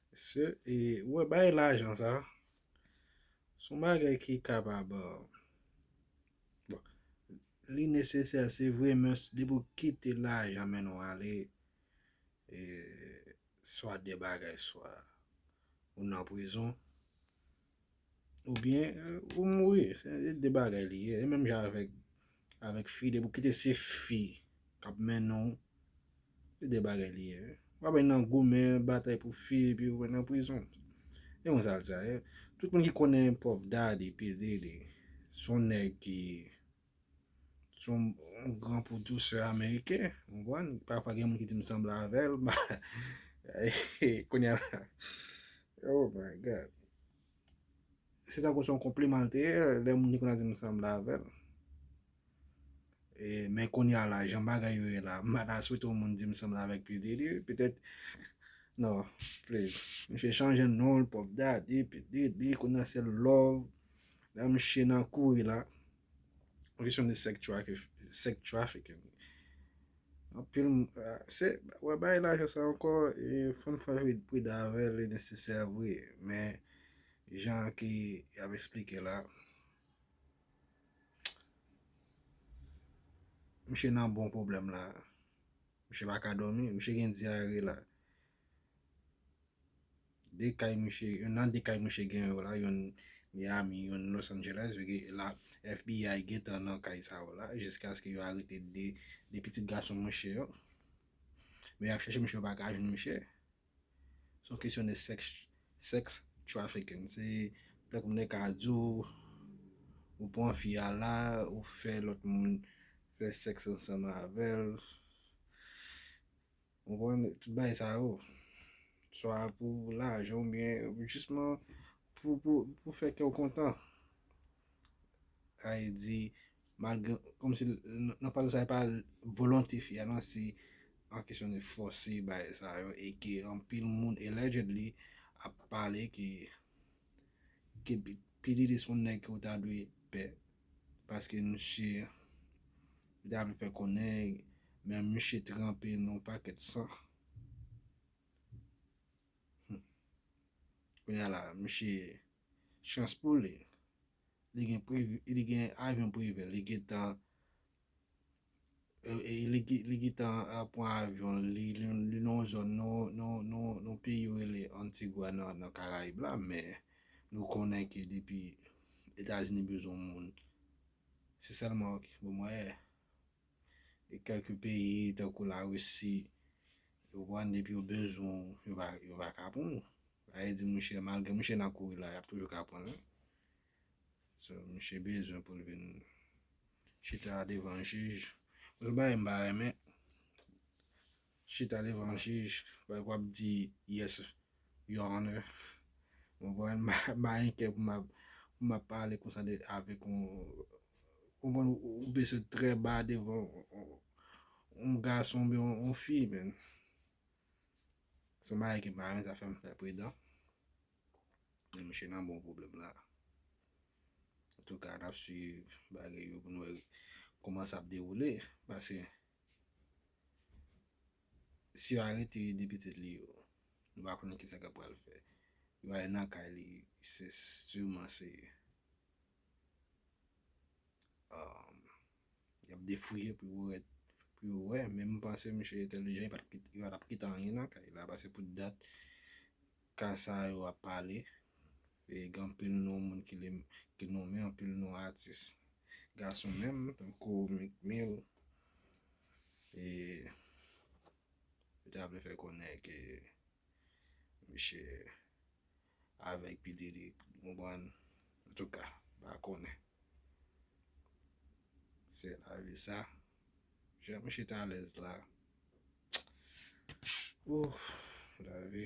Mesye e ou wè bay lajan sa son bagay ki kapab bon li nesesè se vre men depi ou kite lajan men nou ale e swa de bagay swa ou nan prizon Oubyen ou mouri. Se 2 bagay li ye. E menm jan avèk avèk fi depi ou kite se fi kap mennen w. Se 2 bagay li ye. Ou pa bay nan goumen batay pou fi epi ou nan prizon. Se konsa l sa ye. Tout moun ki konnen Puff Daddy, P. Diddy, son nèg ki. Son gran pwodusè ameriken, ou konprann? Pafwa gen moun ki di m sanble avè l, ba, kounye a, oh my God! Se tankou son konpliman l te ye, lè moun te konn ap di m sanble avè l. E, men kounye a la, jan bagay yo ye la, m pa ta swete yon moun di m sanble avèk P. Diddy, petèt, non, please. Misye chanje non l, Puff Daddy, P. Diddy, kounye a se Love. La msye nan kouri la. Mwen kesyon de sex trafficking. Anpil m... Se, wè bay la jan sa ankò, e fon fè vre pri davè li nesesè vre. Men, jan ki ap esplike la. Msye nan bon problem la. Msye baka domi, msye gen diare la. 2 kay mouche yon nan 2 kay mouche gen yo la yon Miami yon Los Angeles vege la FBI gen tan nan kay sa yo la jiskaske yo arete 2 2 pitit gason mouche yo men ap chèche mouche yo pa ka jwenn mouche son kesyon de sex sex trafficking se tank moun nèg ka di w ou pran fi a la ou fè lòt moun fè sex ansanm avèl Ou konprann tout bagay sa yo. Swa pou lajan ou byen jisman pou pou fè kè ou kontan. Ay di malgre kòm si nan faz sa e pa volonte fi a nan se an kesyon de fòse bagay sa yo e ke anpil moun allegedly ap pale ke ke P. Diddy se yon nèg ke ou ta dwe pè. paske misye li ta vle fè konnen men misye tranpe nan yon pakèt san humm kounya la misye chans pou li li gen avyon prive li gentan Li gitan pran avyon li non zòn non peyi rele antigwa nan karayib la men nou konnen ke depi etazini bezon moun se sèlman ok bon mwen e e kèlke peyi tankou la russi yo pran depi yo bezon yo va ka pran ou a ye di mouche malge mouche nan kouri la yap toujou ka pran ou. So misye bezwen poul vin Chita devan jij. Bon yon bagay m pa renmen Chita devan jij like wap di yes your honor ou konprann m pa gen kè pou m ap pale konsa avèk yon ou konprann ou bese trè ba devan yon gason oubyen yon fi man. Son bagay ke m pa renmen sa fè m fè pridan. Men misye nan bon pwoblèm la. Antouka nap swiv bagay yo pou nou wè kouman sa ap dewoule. Paske si yo arete 2 pitit li yo, nou pa konnen kisa kap pral fè. Yo ale nan kay li, se siman se yap defouye pou yo wè, pou yo wè. Men m panse misye entelijan, yo pa tap kite anyen nan kay la. Paske pou dat. Ka sa yo ap pale e gen anpil non moun ki nonmen anpil non atis gason menm tankou Meek Mill e yo ta vle fè konnen ke misye avèk P Diddy ou konprann antouka m pa konnen se lavi sa jan misye t alèz la ooh lavi.